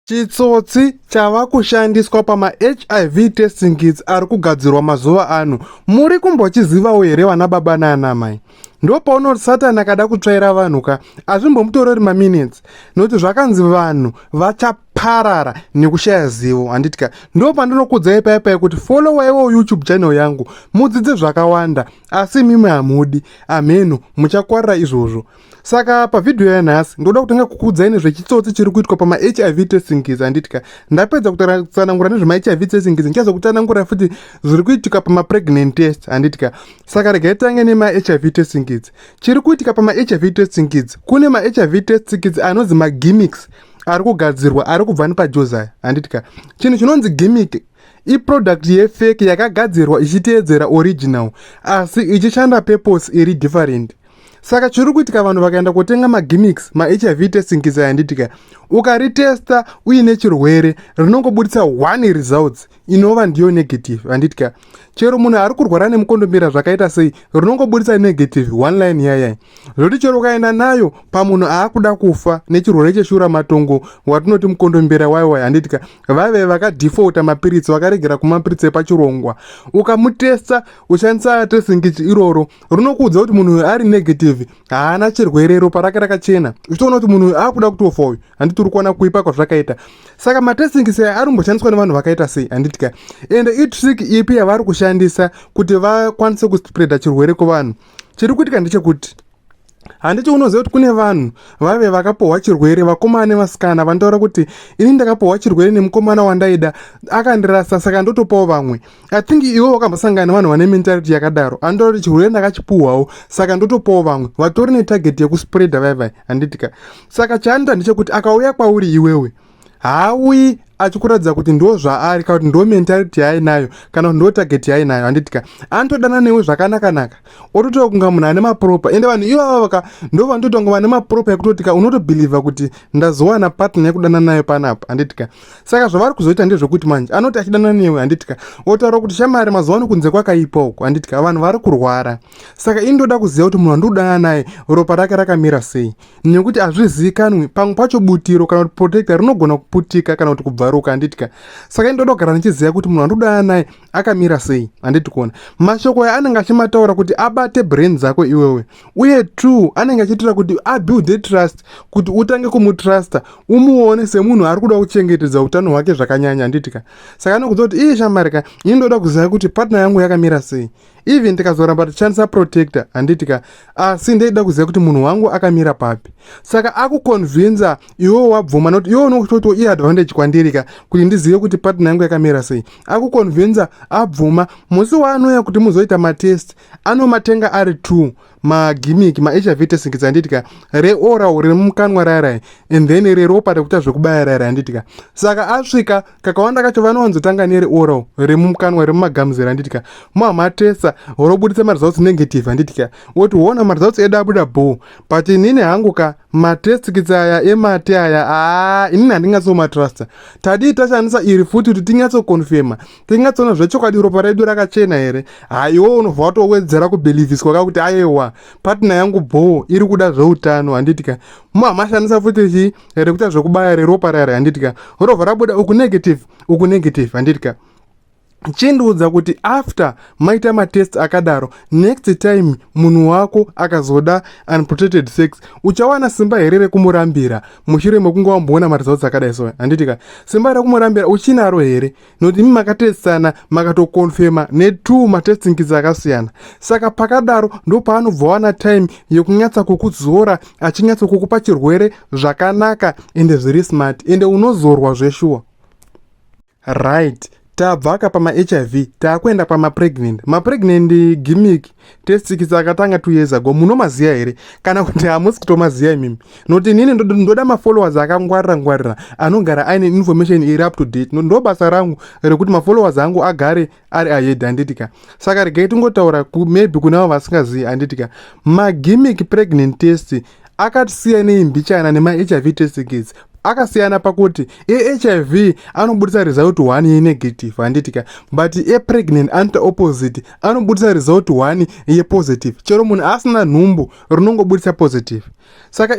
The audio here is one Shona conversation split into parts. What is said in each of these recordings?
Chitsotsi chava kushandiswa pamaHIV testing kits ari kugadzirwa mazuva ano. Muri kumbochizivawo here vana baba naanamai? Ndo pauno Satani akada kutsvaira vanhu ka azvimbomutorori maminutes nokuti zvakanzi vanhu vachaparara nekushaya zivo handiti ka ndo pandinokudzai paya paya kuti followaiwo YouTube channel yangu mudzidze zvakawanda asi imimi hamudi amheno muchakwarira izvozvo. saka pavhidhiyo yanhasi ndoda kutanga kukuudzai nezvechitsotsi chiri kuitwa pamahiv testingiz handitika ndapedza kutsanangura nezvemahiv testingiz ndichazo kutsanangura futi zviri kuitika pamapregnant test handitika saka regai tange nemahiv testingiz chiri kuitika pamahiv testingiz kune mahiv testingiz anonzi magimics ari kugadzirwa ari kubva nepajozaya handitika chinhu chinonzi gimic iproduct yefeki yakagadzirwa ichiteedzera original asi ichishanda purpose iri different saka chiri kuitika vanhu vakaenda kotenga magimmicks mahiv testing kisa yanditika ukaritesta uine chirwere rinongoburitsa one results inova ndiyo negative handitika chero munhu ari kurwara nemukondombera zvakaita sei rinongoburitsa negative one line yayai zvoti chero ukaenda nayo pamunhu aakuda kufa nechirwere cheshura matongo watinoti mukondombera waiwai handitika vaive vakadefauta mapiritsi vakaregera kumapiritsi epachirongwa ukamutesta ushandisa testing ichi iroro runokuudza kuti munhu uyu ari negative haana chirwere ropa rake rakachena uchitoona kuti munhu uyu akuda kutofa uyu handiti uri kuona kuipa kwazvakaita saka matesting sei ari kumboshandiswa nevanhu vakaita sei handiti ka ende itrick ipi yavari kushandisa kuti vakwanise kuspreada chirwere kuvanhu chiri kuitika ndechekuti handiti unoziva kuti kune vanhu vave vakapohwa chirwere vakomana nevasikana vanotaura kuti ini ndakapohwa chirwere nemukomana wandaida akandirasa saka ndotopawo vamwe i think iwe wakambosangana nevanhu vane mentality yakadaro anotaura kuti chirwere ndakachipuhwawo saka ndotopawo vamwe vatori netarget yekuspreada vaivai handitika saka chaanoita ndechekuti akauya kwauri iwewe haawi achikuratidza kuti ndo zvaari kana kuti ndo mentality yaainayo kana kuti ndo target yaainayo handitika anotodana newe zvakanakanaka ototaura kunga munhu ane mapropa ende vanhu ivava vaka ndo vanotoita kunga vane mapropa ekutotika unotobhilivha kuti ndazowana partner yekudana nayo panapa handitika saka zvavari kuzoita ndezvekuti manje anoti achidana newe handitika otaura kuti shamari mazuva ano kunze kwakaipa uko handitika vanhu vari kurwara saka ini ndoda kuziva kuti munhu andikudana naye ropa rake rakamira sei nekuti hazvizivikanwi pamwe pacho butiro kana kuti protecta rinogona kuputika kana kuti kubvaruka handitya saka indoda kugara ndichiziva kuti munhu andodana naye akamira sei handiti kuona mashoko aya anenge achimataura kuti abate brain dzako iwewe uye two anenge achiitira kuti abuilde trust kuti utange kumutrusta umuone semunhu ari kuda kuchengetedza utano hwake zvakanyanya handitika saka anokuziva kuti iye shamari ka ini ndoda kuziva kuti partner yangu yakamira sei even tikazoramba tichishandisa protector handiti ka asi ndeida kuziva kuti munhu wangu akamira papi saka akuconvinsa iwewo wabvuma nokuti iwewo unokutoti iye advantage kwandiri ka kuti ndizive kuti partner yangu yakamira sei akuconvinsa abvuma musi waanouya kuti muzoita matest anomatenga ari two magimmick mahiv testing dzanditika reoral riri mukanwa rairai and then reropa rekuita zvekubaya rairai anditika saka asvika kakawanda kacho vanowanzotanga nereoral riri mukanwa riri mumagamuzera anditika mamatesa orobuditsa maresults negative anditika woti wona maresults edu abuda bho but inini hangu ka matestix aya emate aya aa inini handingatsomatrusta tadii tashandisa iri futi kuti tinyatsokonfema tinyatsoona zvechokwadi ropa redu rakachena here ha iwo unobva watowedzera kubhilivhiswa ka kuti ayewa patna yangu bhoo iri kuda zveutano handitika muhamashandisa futi chii rekuita zvekubaya reropa rari handitika rovha rabuda uku negative uku negative handitika chindiudza kuti after maita matest akadaro next time munhu wako akazoda unprotected sex uchawana simba here rekumurambira mushure mekunge wamboona maresults akadai so handiti ka simba rekumurambira uchinaro here nokuti imi makatestsana makatokonfema netwo matestingkidzi akasiyana saka pakadaro ndopaanobva wana time yekunyatsa kukuzora achinyatsa kukupa chirwere zvakanaka ende zviri smart ende unozorwa zveshuwa right tabva ka pamahiv taakuenda kwamapregnant mapregnant gimmick tesikisa akatanga two years ago munomaziva here kana kuti hamusi kutomaziva imimi nokuti inini ndoda mafollowers akangwarira ngwarira anogara aine information iri up to date ndo basa rangu rekuti mafollowers angu agare ari ayedi handiti ka saka regai tingotaura maybe kunavo vasingazivi handiti ka magimic pregnant test akatisiya nei mbichana nemahiv test kits akasiyana pakuti ehiv anobudisa result one yenegative handiti ka but epregnant anoita opposite anobudisa result one yepositive chero munhu asina nhumbu rinongobudisa positive saka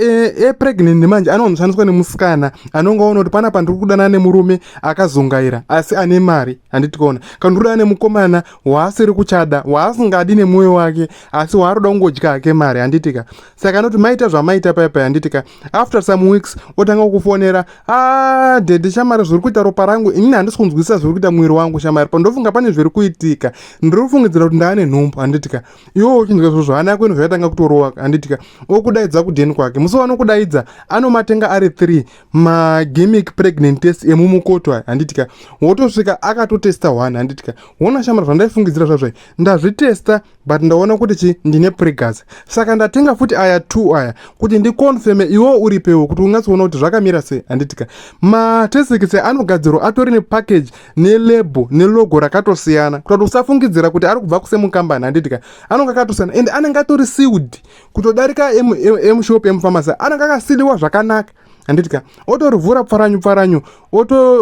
epregnant e manje anonoshandiswa nemusikana anonga ona kuti panapa ndiri kudanana nemurume akazungaira asi ane mari handiti kona kana ndiri kudanana nemukomana waasiri kuchada waasingadi nemwoyo wake asi waari kuda kungodya hake mari handitika saka anoti maita zvamaita paya paya handitika after some weeks otanga kukufonera a ah, dhedhe shamari zviri kuita ropa rangu inini handisi kunzwisisa zviri kuita mwiri wangu shamari pandofunga pane zviri kuitika ndiri kufungidzira kuti ndaane nhumbu handitika iwo uchinzwa zvozvo hana yako inobva yatanga kutorova handitika okudaidza kudheni kwake musi wanokudaidza anomatenga ari three magimic pregnant test emumukoto aya handitika wotosvika akatotesta one handitika wona shamara zvandaifungidzira zvazvai ndazvitesta but ndaona kuti chi ndine pregas saka ndatenga futi aya two aya kuti ndiconfirme iwo uripewo kuti ungatsoona kuti zvakamira sei handitika matesekise anogadzirwa atori nepackage nelebo nelogo rakatosiyana kuta kuti usafungidzira kuti ari kubva kusemukambani handiti ka anonge akatosiyana ende anenge atori siwd kutodarika emushop emufamasi anenge akasiliwa zvakanaka handiti ka otorivhura pfaranyu pfaranyu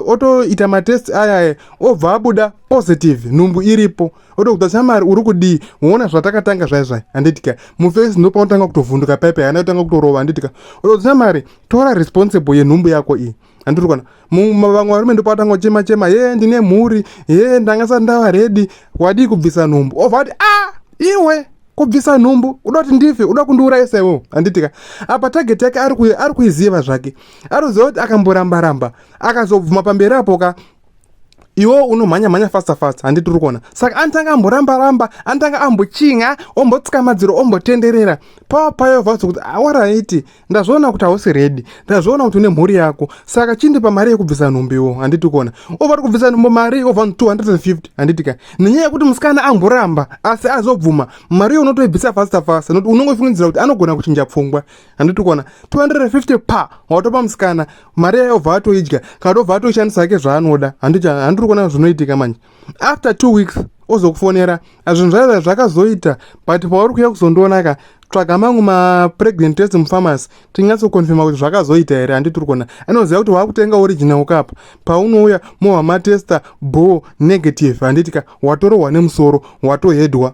otoita matest ayaya obva abuda positive nhumbu iripo otokuta shamari uri kudii woona zvatakatanga zvaizvai handiti ka mufesi ndopaunotanga kutovhunduka paipe haana kutanga kutorova handiti ka otokuta shamari tora responsible yenhumbu yako iyi andiri kuona vamwe varume ndopavatanga kuchema chema ye ndine mhuri ye ndanga sati ndava redi wadii kubvisa nhumbu obva ati a iwe kubvisa nhumbu uda kuti ndife uda kundiurayisa iwewo handitika apa tageti yake ari kuiziva zvake ari kuziva kuti akamboramba ramba akazobvuma pamberi apo ka iwo unomhanya mhanya fasta fasta handiti uri kuona saka anotanga amboramba ramba anotanga ambochinga ombotsika madziro ombotenderera pava payo vauza kuti awaraiti ah, ndazviona kuti hausi redi ndazviona kuti une mhuri yako saka chindipa mari yekubvisa nhumbiwo handiti kuona ova ri kubvisa nhumbo mari ova 250 handiti ka nenyaya yekuti musikana amboramba asi azobvuma mari yo unotoibvisa fasta fasta nokuti unongofungidzira kuti anogona kuchinja pfungwa handiti kuona 250 pa watopa musikana mari yayo obva atoidya kana tobva atoishandisa hake zvaanoda handiri kuona zvinoitika manje after two weeks ozokufonera zvinhu zvayo zvakazoita but pauri kuya kuzondionaka tsvaga mangu mapregnant test mupharmacy tinyatsokonfirma kuti zvakazoita here handi tiri kuona anoziva kuti waakutenga original kapa paunouya mohwa matesta bo negative handitika watorohwa nemusoro watohedwa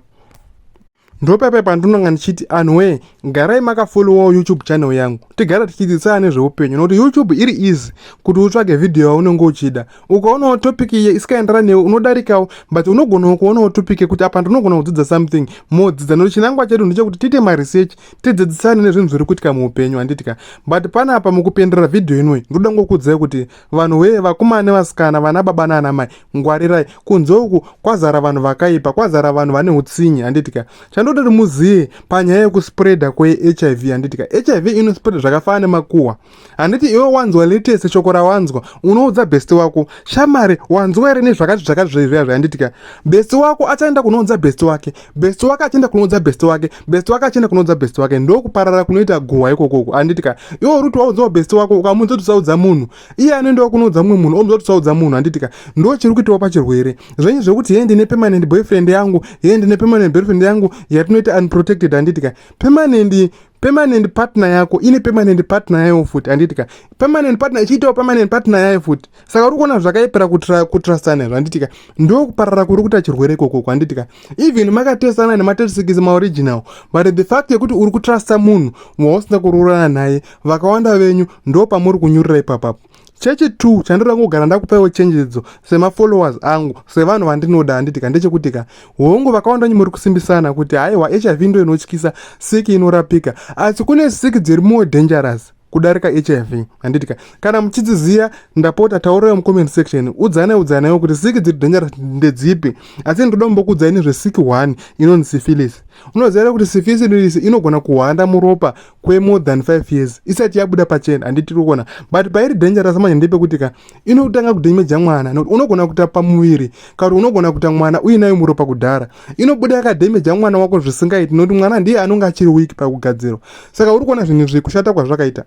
ndopaipai pandinonga ndichiti anhuwee garai makafollowawo youtube channel yangu tigara tichidzidzisana nezveupenyu nokuti youtube iri easy kuti utsvage vhidhiyo yaunenge uchida ukaonawo topic iye isikaenderana newe unodarikawo but unogonawo kuonawo topic yekuti apa ndinogona kudzidza something modzidza nokuti chinangwa chedu ndechekuti tiite maresearch tidzidzisane nezvinhu zviri kuitika muupenyu handiti ka but panapa mukupenderera vhidhiyo inoi ndoda ngokuudzai kuti Vanhu wee vakomana nevasikana vana baba nana mai ngwarirai kunze uku kwazara vanhu vakaipa kwazara vanhu vane utsinye handitika chandodoti muziye panyaya yekuspreada kwehiv handitika hiv inospreada zvakafanana nemakuhwa handiti iwe wanzwa latest shoko rawanzwa unoudza besti wako shamari wanzwa here nezvakati zvakati zvezviya zvahanditika besti wako achaenda kunoudza besti wake best wake achienda kunoudza best wake best wake achienda kunoudza best wake ndokuparara kunoita guhwa ikokoko handiti ka iwo ruti waudzawo best wako ukamuudza kuti usaudza munhu iye anoendawo kunoudza mumwe munhu omuudza kuti usaudza munhu handiti ka ndo chiri kuitawo pachirwere zvenyu zvekuti hee ndine permanent boyfriend yangu hee ndine permanent boyfriend yangu yatinoita unprotected handiti ka permanent permanent partner yako ine permanent partner yayo futi handiti ka permanent partner ichiitawo permanent partner yayo futi saka uri kuona zvakaipera kutrustana izvo handiti ka ndo kuparara kuri kuita chirwere ikokoko handiti ka even makatesana nematesikisi maoriginal but the fact yekuti uri kutrusta munhu wausina kuroorana naye vakawanda venyu ndo pamuri kunyurira ipapapo chechi two chandinoda kungogara ndakupaiwo chenjedzo semafollowers angu sevanhu vandinoda handitika ndechekutika hongu vakawanda nyi muri kusimbisana kuti haiwa hiv ndo inotyisa siki inorapika asi kune siki dziri more dangerous kudarika hiv handitika kana muchidziziya ndapota taurayo mucomment section udzane udzanayo kuti siki dziri dangerous ndedzipi asi ndoda kumbokuudzai nezvesiki one inonzi syphilis unoziva kuti syphilis inogona kuhwanda muropa kwe more than 5 years isati yabuda pachena handiti rikuona but pairi dangerous manje ndepekuti ka inotanga kudemeja mwana nokuti unogona kuta pamuviri kakuti unogona kuta mwana uinayo muropa kudhara inobuda yakademeja mwana wako zvisingaiti nokuti mwana ndiye anonge achiri weak pakugadzirwa saka uri kuona zvinhu zviri kushata kwazvakaita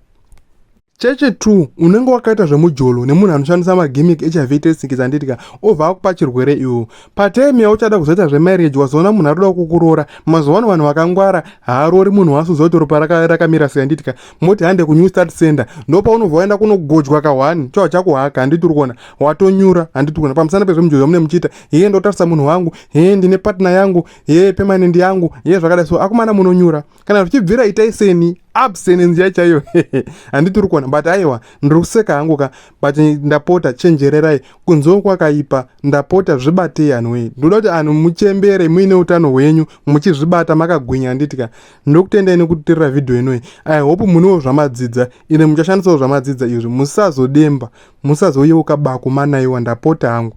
cheche 2 unenge wakaita zvemujolo nemunhu anoshandisa magimic hiv testing dzanditika obva akupa chirwere iwo patime yauchada kuzoita zvemarriage wazoona munhu atoda kukuroora mazuva ano vanhu vakangwara haaroori munhu waasuziva kuti ropa rakamira sei anditika moti hande kunew start center ndopaunobva waenda kunogojwa kahwani choa chakuhaka handiti uri kuona watonyura handiti kuona pamusana pezvemujolo zvamune muchiita hee ndotarisa munhu wangu hee ndine partner yangu hee permanent yangu hee zvakadai so akumana munonyura kana zvichibvira itai seni abstinence ya chaiyo handiti uri kuona but aiwa ndiri kuseka hangu ka but ndapota chenjererai kunzoo kwakaipa ndapota zvibatei anhu wee ndoda kuti anhu muchembere muine utano hwenyu muchizvibata makagwinya handiti ka ndokutendai nekutirira vhidhiyo inoyi i hope muniwo zvamadzidza ine muchashandisawo zvamadzidza izvi musazodemba musazouyewo kabako manaiwa ndapota hangu